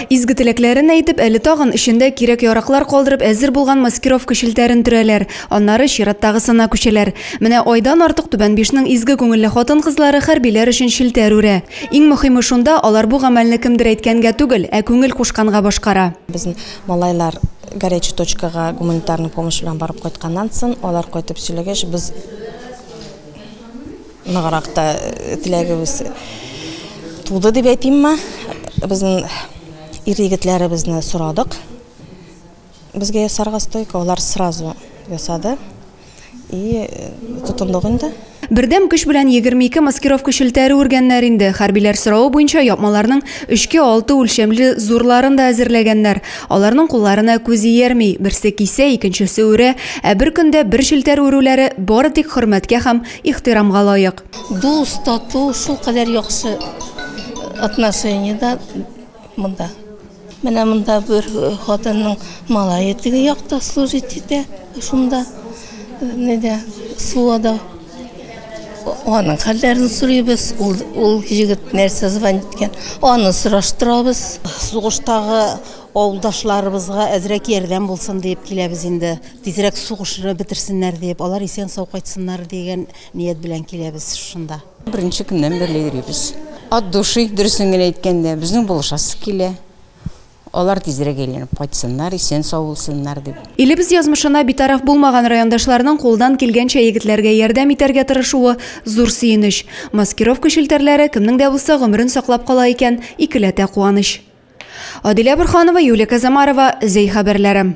Изге теләкләрен әйтеп, әле тагын эчендә кирәк-яраклар калдырып әзер булган маскировка челтәрен төрәләр, аннары чираттагысына күчәләр. Менә айдан артык Түбән Бишнең изге күңелле хатын-кызлары хәрбиләр өчен челтәр үрә. Иң мөхиме шунда, алар бу гамәлне кемдер әйткәнгә түгел, ә күңел кушканга башкара. Безнең малайлар горячий точкага гуманитарный помощь белән барып кайтканнан сон, алар кайтып сөйләгәч, без. Ныграк та теләгебез туды дип әйтимме. Безнең ир-егетләребезне сорадык. Безгә ясарга стойка, алар сразу ясады. И тотындык инде. Бердәм көч белән 22 маскировка челтәре үргәннәр инде. Хәрбиләр соравы буенча япмаларның өчкә алты үлчәмле зурларын да әзерләгәннәр. Аларның кулларына күз иярми, берсе кисә, икенчесе үрә, ә бер көндә бер челтәр үрүләре бары тик хөрмәткә һәм Ихтирамга лаек. Дус, тату, шул кадәр яхшы отношение да монда. Менә монда бер хатынның малае теге якта служить итә, шунда неде, суада. Аның хәлләрен сорыйбыз, ул, ул егет нәрсә звонит иткән, аны сораштырабыз. Сугыштагы авылдашларыбызга әзрәк ярдәм булсын диеп киләбез инде. Тизрәк сугышны бетерсеннәр дип, алар исән-сау кайтсыннар дигән ният белән киләбез шунда. Беренче көннән бирле йөрибез. От души, дөресен генә әйткәндә, безнең булышасы килә. Алар тизрәк әйләнеп кайтсыннар, исән-сау булсыннар дип. Илебез язмышына битараф булмаган райондашларның кулдан килгәнчә егетләргә ярдәм итәргә тырышуы, зур сөенеч. Маскировка челтәрләре кемнең дә булса гомерен саклап кала икән, икеләтә куаныч. Адилә Борһанова, Юлия Казамарова, Зәй хәбәрләре.